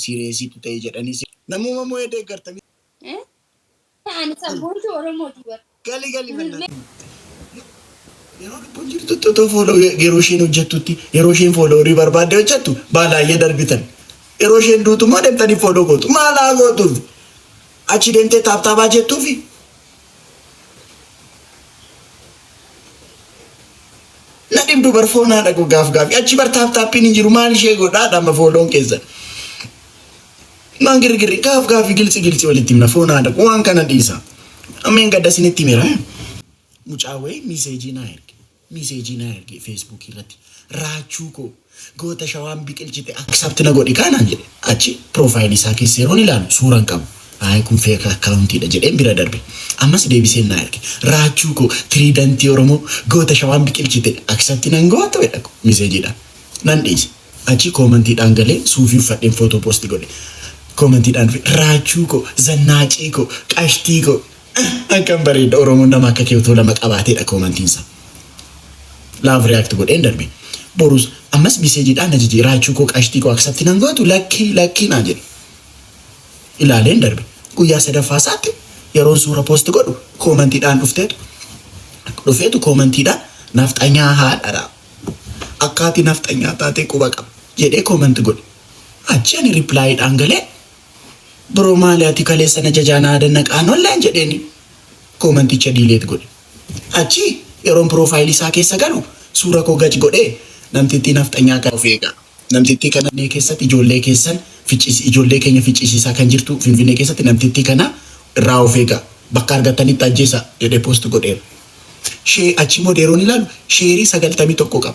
Sireesiitu ta'e jedhanii si. Namuma mo'ee deeggarta miti. Eh? Ani sabboontuu Oromooti bar. Gali gali mannaa. Yeroo lubbuun jirtutti otoo fooloo yeroo isheen hojjettutti yeroo isheen fooloo horii barbaadde hojjettu baalaayyee darbitan. Yeroo isheen duutu immoo deemtanii fooloo gootu. Maalaa gootuuf? Achi deemtee taaptaabaa jettuufi na dhibdu bar foon haadha koo gaaf gaafi achi bar taap taappiin hin jiru maal ishee godhaa dhama fooloon keessan maan girgirri gaaf gaafi giltsi giltsi walitti himna foon haadha koo waan kana dhiisa ameen gadda isinitti himera mucaa wayii miiseejii naa erge Message na erge Facebook irratti Raachuu koo goota shawaan biqilchite accept na godhi kaa naan jedhe achi profile isaa keessa yeroon ilaalu suura hin qabu ayi kun fake account dha jedheen bira darbe ammas deebiseen na erge Raachuu koo trident oromoo goota shawaan biqilchite accept nan gootu jedha ko message dha nan dhiise achi comment dhaan galee suufii uffadheen photo post godhe comment dhaan dhufe Raachuu koo zannaacii koo qashtii koo Akkam bareedda oromoon nama akka kee utuu lama qabaateedha koomantiin isaa love react godheen darbe borus ammas message dhaan na jijii raachuu koo qashtii koo accept nan gootu lakkii lakkii naa jedhe ilaaleen darbe guyyaa sadaffaa isaatti yeroon suura post godhu koomantii dhaan dhufteetu dhufeetu koomantii dhaan nafxanyaa haadhadha akkaati nafxanyaa taatee quba qaba jedhee koomanti godhe achi ani reply dhaan galee Bro maali ati kaleessa na jajaa na aada naqaan online jedheeni koomenticha delete godhe. Achi yeroon profile isaa keessa galu suura koo gac godhee namtittii nafxanyaa kana of eegaa. Namtittii kana finfinnee keessatti ijoollee keessan ficciisi ijoollee keenya ficciisiisaa kan jirtu finfinnee keessatti namtittii kana irraa of eegaa. Bakka argattanitti ajjeesaa jedhee post godheera. Share achiimmoo yeroon ilaalu sheerii 91 qaba.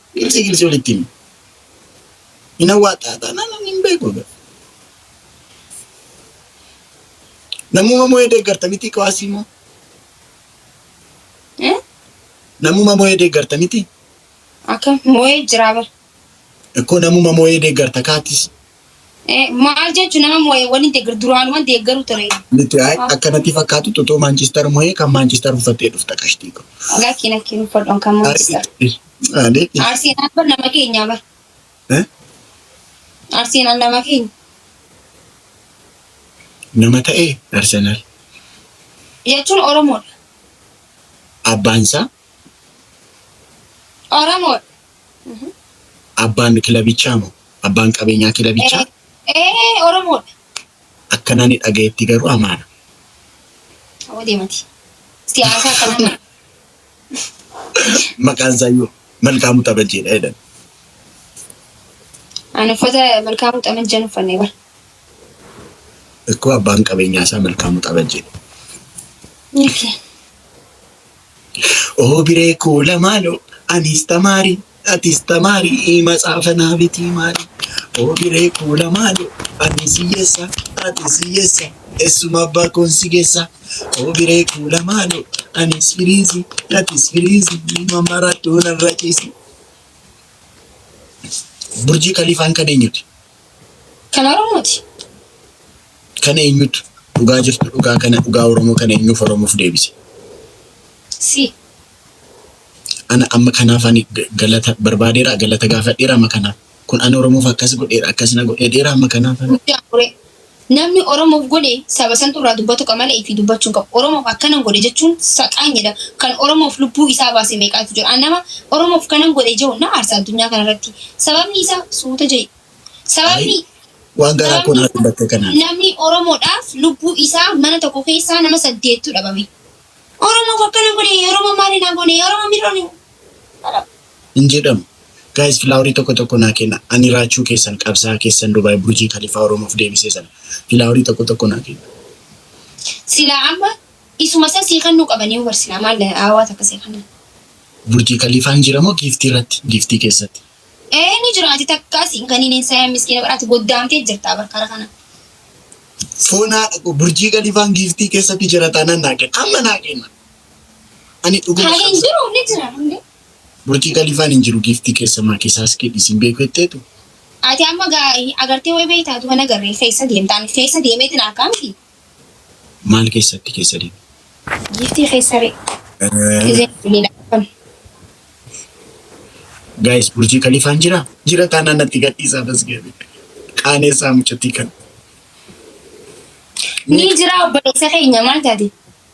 Girsii girsii walitti himi. Hin awwaattaa taanaan ani hin beeku egaa. Namuma moo'ee deeggarta miti qawaasii moo? Eh? Namuma moo'ee deeggarta miti? Akka moo'ee jiraa bar. Ikkoo namuma moo'ee deeggarta kaatis Eh, Maal jechuun nama moo'ee waliin deeggaru duraanuman deeggaru ture. Nuti ay- akka natti fakkaatu tutoo Maanchiistar moo'ee kan Maanchiistar uffattee dhufta qashtii ko. Lakkii lakkii uffadhoon kan Maanchiistar. Alee. Arsenal bar nama keenya bar. Eh? Arsenal nama keenya. Nama ta'ee Arsenal. Jechuun Oromoodha. Abbaan isaa Oromoodha. Abbaan kilabichaa moo abbaan qabeenyaa kilabichaa Ee Oromoodha. akka nani dhagayetti garuu amaara. Hoo deemati. Siyaasa akkanaa Maqaan isaayyuu Malkaamuu Xabajjeedha jedhan. Ani uffata malkaamuu xamajjan uffannee bara. Ikkoo abbaan qabeenyaa isaa Malkaamuu Xabajjeedha. Yaafi. Obiree koola maaloo anis tamaarii atis tamaarii matsaafa naa bitii maalii Obiree koola maaloo anis hiyyeessa atis hiyyeessa essuma abbaa koon si geessa Obiree koola maaloo anis firiizi atis firiizi ilma marattuu narra ciisi. Burjii Kaliifaan kan eenyuti? Kan Oromooti. Kana eenyutu dhugaa jirtu dhugaa kana dhugaa oromoo kana eenyuuf oromoof deebise? Si. Ana amma kanaaf ani ga- galata barbaadeera galata gaafadheera amma kanaaf kun ani oromoof akkas godheera akkas na godheera amma kanaaf ani Guddaa muree. Namni Oromoof godhe saba santu irraa dubbatu qaba malee ifii dubbachuu hin qabu. Oromoof akkanan godhe jechuun saqaanya jedhama. Kan Oromoof lubbuu isaa baase meeqaatu jira? An nama Oromoof kanan godhe jehu na aarsa addunyaa kanarratti. Sababni isaa suuta jehi. Sababni waan garaa koo naa dubbatte kanaan. Namni Oromoodhaaf lubbuu isaa mana tokko keessaa nama saddeettu dhabame. Oromoof akkana godhe, Oromoo maali naa goone, Oromoo mirroone. hin jedhamu. Guys filaawarii tokko tokko naa kenna ani raachuu keessan qabsaa'aa keessan Dubai Burjii Kalifaa Oromoof deebisee sana filaawarii tokko tokko naa kenna. Silaa amma isuma san sii kannuu qabanii ubar silaa maal hawaasa akka sii kannan. Burjii Kalifaan jira moo giiftii irratti giiftii keessatti. Ee ni jira ati takkaas hin kaniin hin sayan miskiina bar ati goddaamtee jirtaa bar kara kana. Foon haadha koo burjii kalifaan giiftii keessatti jira taanaan naa kenna amma naa kenna ani dhuguma Kan hin qabsa jiru ni jira hundee. burjii kalifaan hin jiru giiftii keessa maa keessaa iskee dhiisiin beeku jetteetu Ati amma gaa agartee way beektaatu kan agarree keessa deemtaan keessa deemeetiin harkaa miti. Maal keessatti keessa deema? Giiftii keessa ree. Gizeen duuniidha akkam. Guys, Burjii Kalifaan jira? Jira taanaan natti gadhiisaa tasgabee. Qaaneessaa mucattii kan. Ni jira obboleessa keenya maal taate?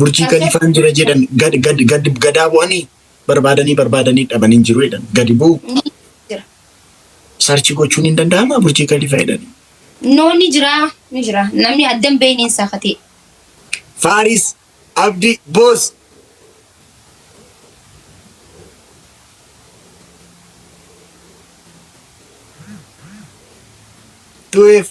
Burjii Kaliifaan jira jedhan gad gad gad gadaa bu'anii barbaadanii barbaadanii dhaban hin jiru jedhan gadi bu'u Ni jira. sarchi gochuun hin danda'ama Burjii Kaliifaa jedhan. No ni jira. Ni jira. Namni addan beeyni hin saafatee. Faaris Abdi Boos. Tuweef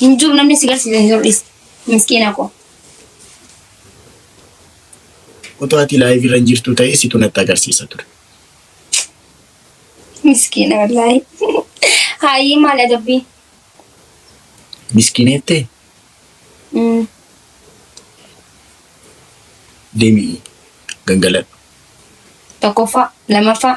Hin jiru namni si garsiise hin jiru dhisi. Miskiina koo. Otoo ati live irra hin jirtu ta'e situ natti agarsiisa ture. Miskiina wallaahi. Haayii maal adabbii? Miskiineettee Mm. deemi gangaladhu. Tokkoffaa, lamaffaa.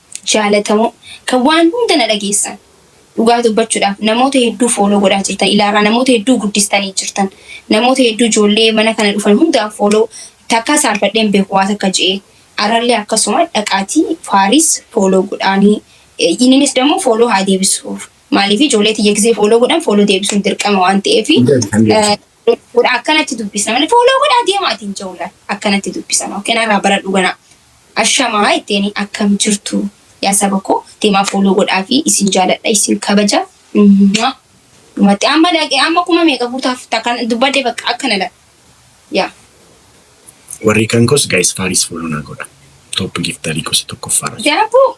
Jaalatamoo kan waan hunda na dhageessan. Dhugaa dubbachuudhaaf namoota hedduu follow godhaa jirtan ilaarraa namoota hedduu guddistanii jirtan. Namoota hedduu ijoollee mana kana dhufan hundaan follow takkaa saalfadhee hin beeku waa takka je'ee. Arrallee akkasuma dhaqaatii Faaris follow godhaanii inninis dammoo follow haa deebisuuf. Maaliif ijoollee tiyya gizee follow godhan follow deebisuun dirqama waan ta'eef. Hundeen hundeen. Godha akkanatti dubbisa malee fooloo godhaa deemaa ittiin jawulan akkanatti dubbisa maa kenarraa bara dhuganaa ashamaa ittiin akkam jirtu yaa saba koo deemaa fooloo godhaa fi isin jaaladha isin kabaja Mwah. dhumatti amma laqee amma kuma meeqa guutaaf takkan dubbadde bakka akkana laqa yaa Warri kan kos guys faaris follow naa godha. Top giftarii gosa tokkoffaarra. jira. daaboo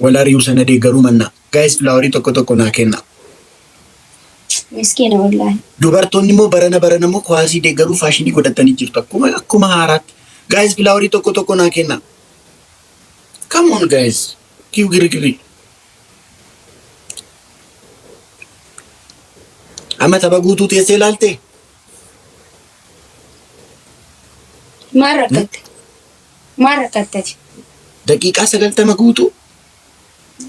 Wal ari'uu sana deeggaruu mannaa. Guys flower tokko tokko naa kennaa. Miskiina wallaahi. Dubartoonni immoo barana barana immoo kuwaasii deeggaruu faashinii godhattanii jirtu akkuma akkuma haaraatti. Guys flower tokko tokko naa kennaa. Come on guys. Kiw girigirri. Amma tapha guutuu teessee ilaaltee? Maal rakkatte? Maal rakkatte ati? Daqiiqaa 90 guutuu.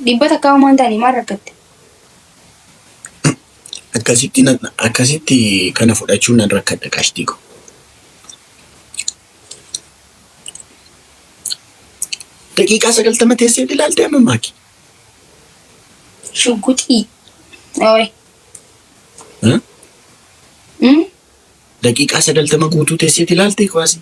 Dhibba takkaa homaa hin taane maal rakkatte? Akkasitti nan- akkasitti kana fudhachuun nan rakkadha qashtii ko. Daqiiqaa 90 teessee ilaaltee amma maaki? Shugguxii. Ooy. Huh? Mm? Daqiiqaa 90 guutuu teessee ilaaltee kuwaasii?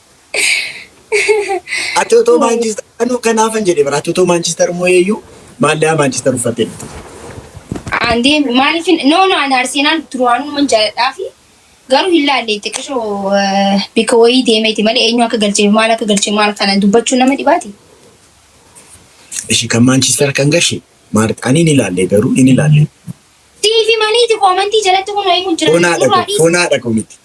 Ati otoo Maanchister anuu kanaafan jedhe bara ati otoo Maanchister mooyeeyyuu maallaa Maanchister uffattee dhufte. Andee maaliif no no an Arsenal duraanuu man jaaladhaa fi garuu hin laalle xiqqishoo bika wayii deemeeti malee eenyu akka galchee fi maal akka galchee maal kana dubbachuu nama dhibaati. Ishi kan Maanchister kan gashe maal ani ni laalle garuu ni laalle. Tiifi maniiti koomantii jalatti kun wayii kun jira. Fonaadha Suuraa kun dhiisi. fonaadha kun miti.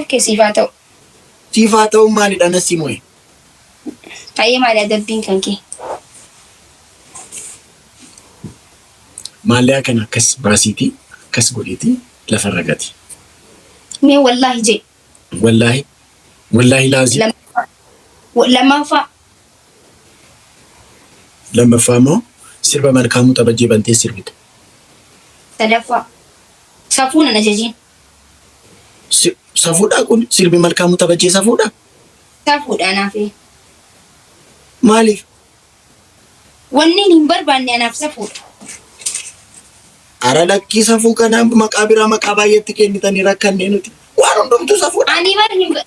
Oke siif haa ta'u. Siif haa ta'u maalidha nassi mo'e. Hayyee maali adabbiin kan kee? Maallee akkan akkas baasiiti akkas godhiiti lafarra gati. Mee wallaahi jee. Wallaahi wallaahi laazii Lammaffaa. Wa- Lammaffaa. lammaffaa immoo sirba malkaamuu xabajjee bantee sirbite. Sadaffaa. Safuu nan ajajiin. Si- Safuudhaa kun sirbi malkaamuu tabajjee safuudha? Safuudha naafee. Maaliif? Wanniin hin barbaanne anaaf safuudha. Ara lakkii safuu kana maqaa biraa maqaa baay'eetti kennitanii rakkannee nuti. Waan hundumtuu safuudha. Ani bar hin ba-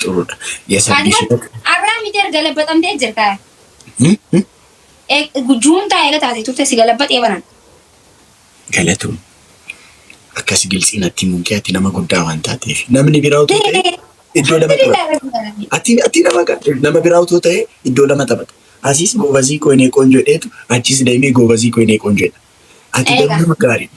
Xurudha. Yasabbi si bakka. Arraa miti erga labbaxamtee jirta. Juuntaa eega taate turte si galabbaxee banan. Galatoom. Akkas giltsii natti himuun kee ati nama guddaa waan taateef. Namni biraa utuu ta'e iddoo lama taphata. Ati ati nama ga- nama biraa utuu ta'e iddoo lama taphata. Asiis goobazii koo inee qoonjoo dheetu achiis deemee goobazii koo inee qoonjoo dha. Ati garuu Eegaa. nama gaariidha.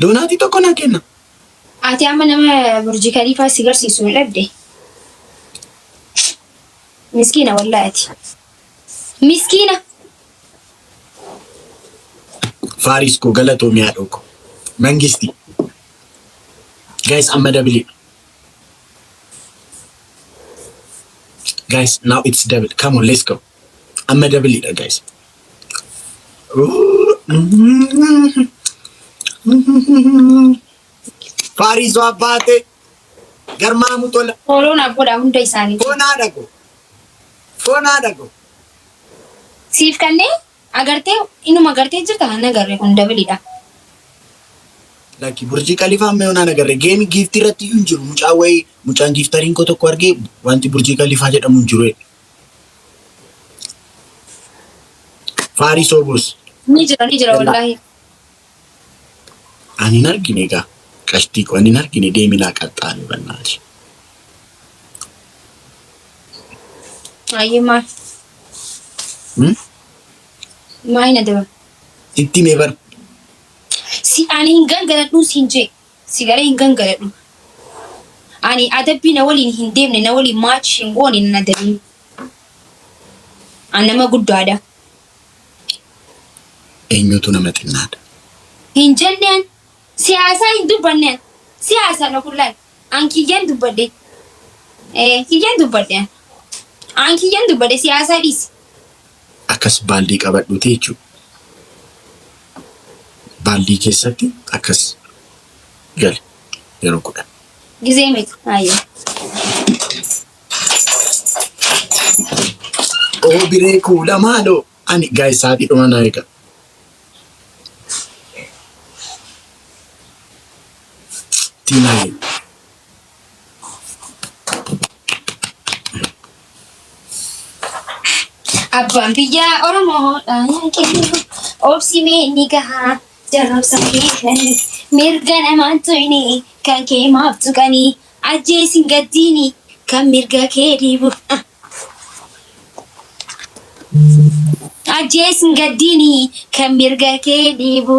Doonaatii tokko naa kenna. Ati amma nama Burji Kaliifaa si garsiisu hin dhabde. Miskiina wallahi ati. Miskiina. Faaris koo galatoomi haadhoo koo. Mangisti. Guys amma dabili. Guys now it's double. Come on let's go. Amma dabiliidha guys. Faariisoo abbaatee garmaamu tola. Fooloon abboodha hunda isaanii. Foonaa dhago. Foonaa dhago. Siif kannee agartee inuma agartee jirta kan agarre kun dabiliidha. Lakki burjii kalifaa mee onaan agarre geemi giiftii irratti iyyuu hin jiru mucaa wayii mucaan giiftariin koo tokko argee wanti burjii kalifaa jedhamu hin jiru. Faarii soobus. Ni jira ni jira wallaahi. Ani hin argine egaa qashtii koo ani hin argine deeminaa qaxxaanii bannaati. Ayyee maa. Hmm? Maa hin adeeman. Itti mee bar Si ani hin gargaradhuu siin jee. Si galee hin gangaladhu. Ani adabbii na waliin hin deemne, na waliin match hin goone nan adabin. An nama guddaadha. Eenyutu nama xinnaadha? Hin jenne an. Siyaasaa hin dubbanne an. Siyaasaadha kun laal. An kiyyan dubbadhe. Ee, kiyyan dubbadhe an. An kiyyan dubbadhe siyaasaa dhiisi. akkas baaldii qabadhuuti jechuudha. Baaldii keessatti akkas gali yeroo kudhan. Gizee meeqa? Hayyee. Oo biree kuula maaloo ani gaa'e sa'aatii dhuma naa eega. Tiinaa Abbaan biyyaa Oromoodha. Obsi mee ni gahaa. Jarrabsa keessanii mirga namaan tuyni kan kee maaf tuqanii ajjeesin gaddiini kan mirga kee dhiibu. Ajjeesin gaddiini kan mirga kee dhiibu.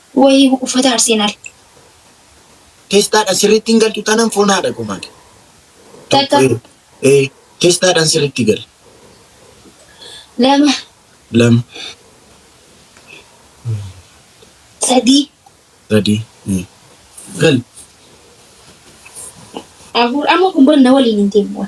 Wayi uffata Arsenal. Testaadhan sirriitti hin galtu tanan foon haadha koo maali? Takka. Tokko, ee, testaadhan sirriitti gali. Lama. Lama, Sadii. sadii, ee. gali. Afur. Amma kun bar na waliin hin deemu.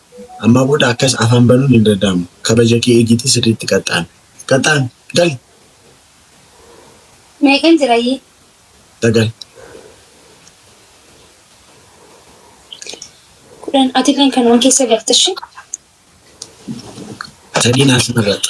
Ammaa booda akkas afaan banuun hin danda'amu. Kabaja kee eegiitii sirriitti qaxxaami. Qaxxaami! Gali! Meeqan jira yii? Sagal. Kudhan. Atilleen kanuma keessa galta ishii. Sadii naaf sirreeffadhu.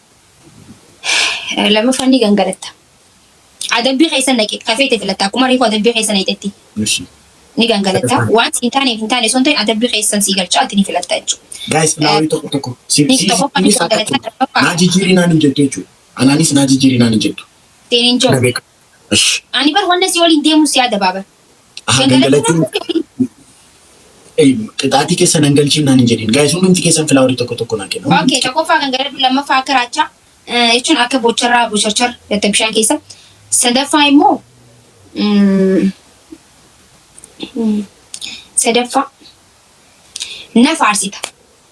Lammaffaan ni gangalatta. Adabbii keessa naqe kafeete filatta akkuma reefu adabbii keessa naqxetti. Ishi. Ni gangalatta. Waan hin taaneef hin taane osoo hin ta'in adabbii keessan sii galchaa ati ni filatta jechuudha. Guys, naa wayii tokko tokko. Si Ni si tokkoffaa ni innis akka gangalatta kun. Naa lammaffaa jijjiirinaan hin jettu jechuudha. Anaanis naa jijjiirinaan hin jettu. ittiin hin Na jiru. beeku. Ash. Ani bar wanna si waliin deemuun si adabaa bar. Aha gangalachuu. Qixaatii keessa nan galchiin naan hin jedhin. Gaayis hundumti keessan filaawari tokko tokko naa kenna. Okay, tokkoffaa gangaladhu, lammaffaa akka raachaa jechuun akka bocharraa bocharchar gatta bishaan keessa. Sadaffaa immoo sadaffaa na faarsita.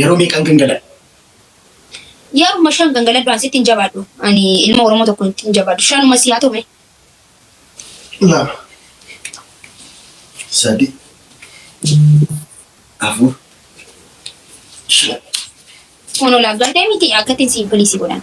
Yeroo meeqaan gangaladha? Yeruma shan gangaladhu an sitti hin jabaadhu. Ani ilma Oromoo tokko sitti hin jabaadhu. Shanuma si haa ta'u mee. Lama. Sadi. Afur. Shan. Kun ol aggaatee miti akkatti si bilisi godhan.